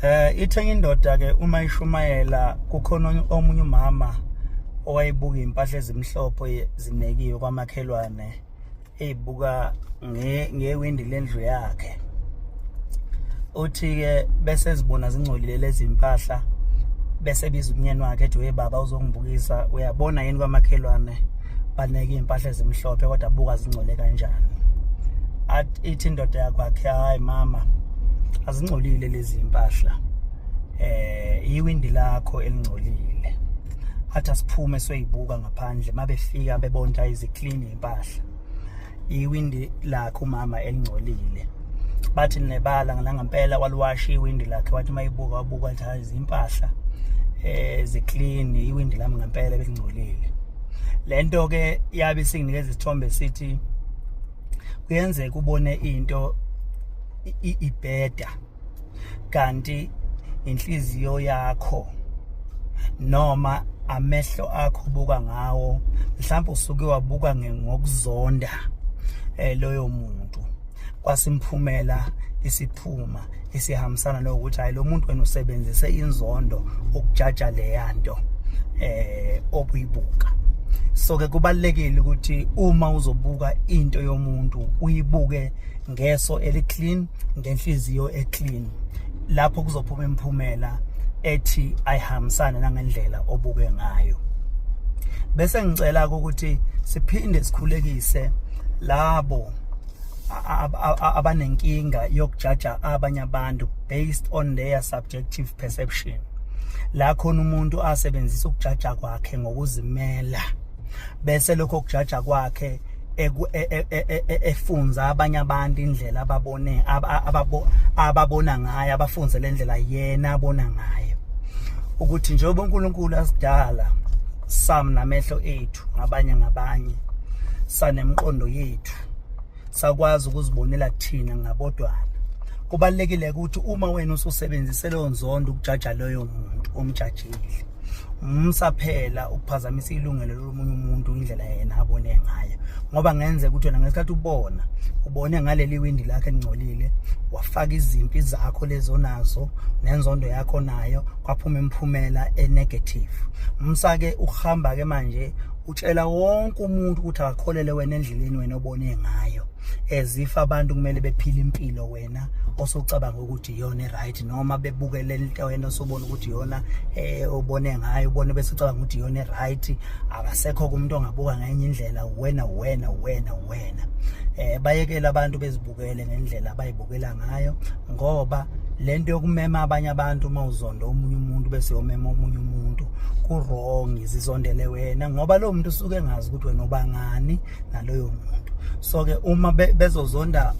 Eh ithe indoda ke uma ishumayela kukhona omunye umama owayebuka impahla ezimhlophe zinekiwe kwamakhelwane ezibuka nge ngewindi lendlu yakhe uthi ke bese zibona zingcolile lezi impahla bese biza umnyeni wakhe ethi we baba uzongibukisa uyabona yini kwamakhelwane baneke iy'mpahla ezimhlophe kodwa buka zingcole kanjani ithi indoda yakwakhe hayi mama azingcolile lezi mpahla eh iwindi lakho elingcolile athi asiphume soyibuka ngaphandle mabefika bebonta iziclean impahla iwindi lakhe umama elingcolile bathi nebala nangampela waliwasha iwindi lakhe wathi uma ibuka wabuka wathi hayi zimpahla eh ziclean iwindi lami ngempela belingcolile lento ke yabe isinginikeza isithombe sithi kuyenzeka ubone into ibheda kanti inhliziyo yakho noma amehlo akho ubuka ngawo mhlawumbe usuke wabuka ngokuzonda eh loyo muntu kwasimphumela isiphuma esihambisana nokuthi hayi lo muntu wena usebenzise inzondo ukujaja leya nto eh obuyibuka so ke kubalekile ukuthi uma uzobuka into yomuntu uyibuke ngeso eliclean ngenhliziyo eclean lapho kuzophuma imphumela ethi ayihambisane nangendlela obuke ngayo bese ngicela ukuthi siphinde sikhulekise labo abanenkinga yokujaja abanye abantu based on their subjective perception la khona umuntu asebenzisa ukujaja kwakhe ngokuzimela bese lokho kujaja kwakhe e, e, e, efunza abanye abantu indlela ababone ababona ngayo abafunze le ndlela yena abona ngayo ukuthi njengoba uNkulunkulu asidala sam namehlo ethu ngabanye ngabanye sanemqondo yethu sakwazi ukuzibonela thina ngabodwana kubalekile ukuthi uma wena ususebenzise leyo nzondo ukujaja loyo muntu omjajile musa phela ukuphazamisa ilungelo lomunye umuntu indlela yena abone ngayo ngoba ngenze ukuthi wena ngesikhathi ubona ubone ngaleli windi lakhe elingcolile wafaka izimpi zakho lezonazo nenzondo yakho nayo kwaphuma imiphumela enegative msake uhamba ke manje utshela wonke umuntu ukuthi akakholele wena endleleni wena obone ngayo as if abantu kumele bephile impilo wena osocabanga ukuthi iyona right noma bebukele into wena osobona ukuthi iyona eh ubone ngayo ubone bese ucabanga ukuthi iyona right akasekho kumuntu ongabuka ngenye indlela wena wena wena wena eh bayekela abantu bezibukele ngendlela abayibukela ngayo ngoba lento yokumema abanye abantu uma uzonda omunye umuntu bese yomema omunye umuntu kurong izizondele wena ngoba lo muntu usuke engazi ukuthi wena ubangani naloyo muntu so ke uma bezozonda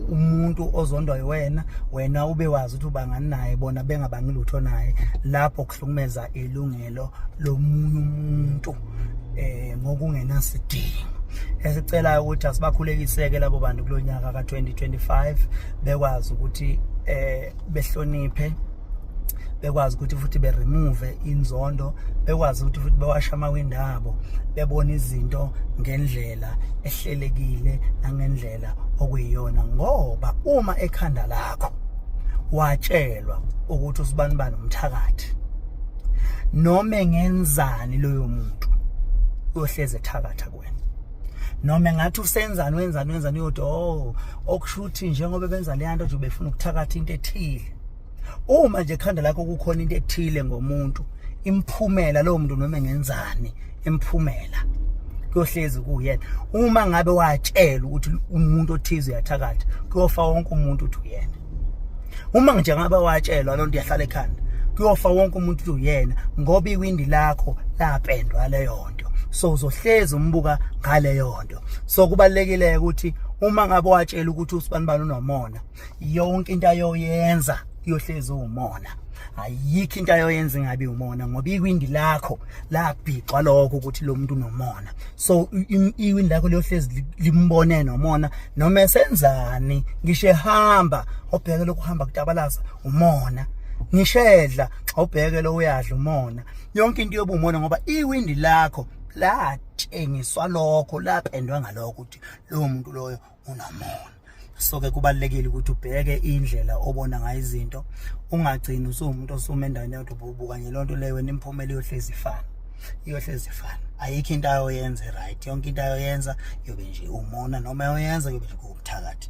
umuntu ozondwa yiwena wena ube wazi ukuthi ubangani naye bona bengabangi lutho naye lapho kuhlukumeza ilungelo lomunye umuntu eh ngokungenasidingo esicelayo ukuthi asibakhulekiseke labo bantu kulonyaka ka2025 bekwazi ukuthi eh behloniphe bekwazi ukuthi futhi beremove inzondo bekwazi ukuthi futhi bewasha amawindi abo bebona izinto ngendlela ehlelekile nangendlela okuyiyona ngoba uma ekhanda lakho watshelwa ukuthi usibani bani umthakathi noma engenzani loyo muntu uyohleze ethakatha kuwena noma ngathi usenzani wenzani wenzani uyodwa oh okushuthi njengoba benza leyanto nje ubefuna ukuthakatha into ethile uma nje ekhanda lakho kukhona into ethile ngomuntu imphumela lowo muntu noma engenzani imphumela kuyohlezi kuyena uma ngabe watshela ukuthi umuntu othize uyathakatha kuyofa wonke umuntu uthi uyena uma nje ngabe watshelwa loo nto iyahlala ekhanda kuyofa wonke umuntu uthi uyena ngoba iwindi lakho lapendwa leyo nto so uzohlezi umbuka ngaleyo nto so kubalekile ukuthi uma ngabe watshela ukuthi usibani bani unomona yonke into ayoyenza kuyohlezi umona ayikho into ayoyenza ingabe umona ngoba iwindi lakho labhixwa lokho ukuthi lo muntu unomona so iwindi lakho liyohlezi limbone nomona noma esenzani ngisho ehamba obheke lokuhamba kutabalasa umona ngishedla obheke lo uyadla umona yonke into yobumona ngoba iwindi lakho latshengiswa lokho lapendwa ngalokho ukuthi lowo muntu loyo unomona so ke kubalekile ukuthi ubheke indlela obona ngayo izinto ungagcini usuwumuntu osuma endaweni yodwa ububu kanye lonto leyo wena imphumela iyohlezi ifana iyohlezi ifana ayikho into ayoyenza right yonke into ayoyenza yobe nje umona noma yoyenza yobe nje kuwubuthakathi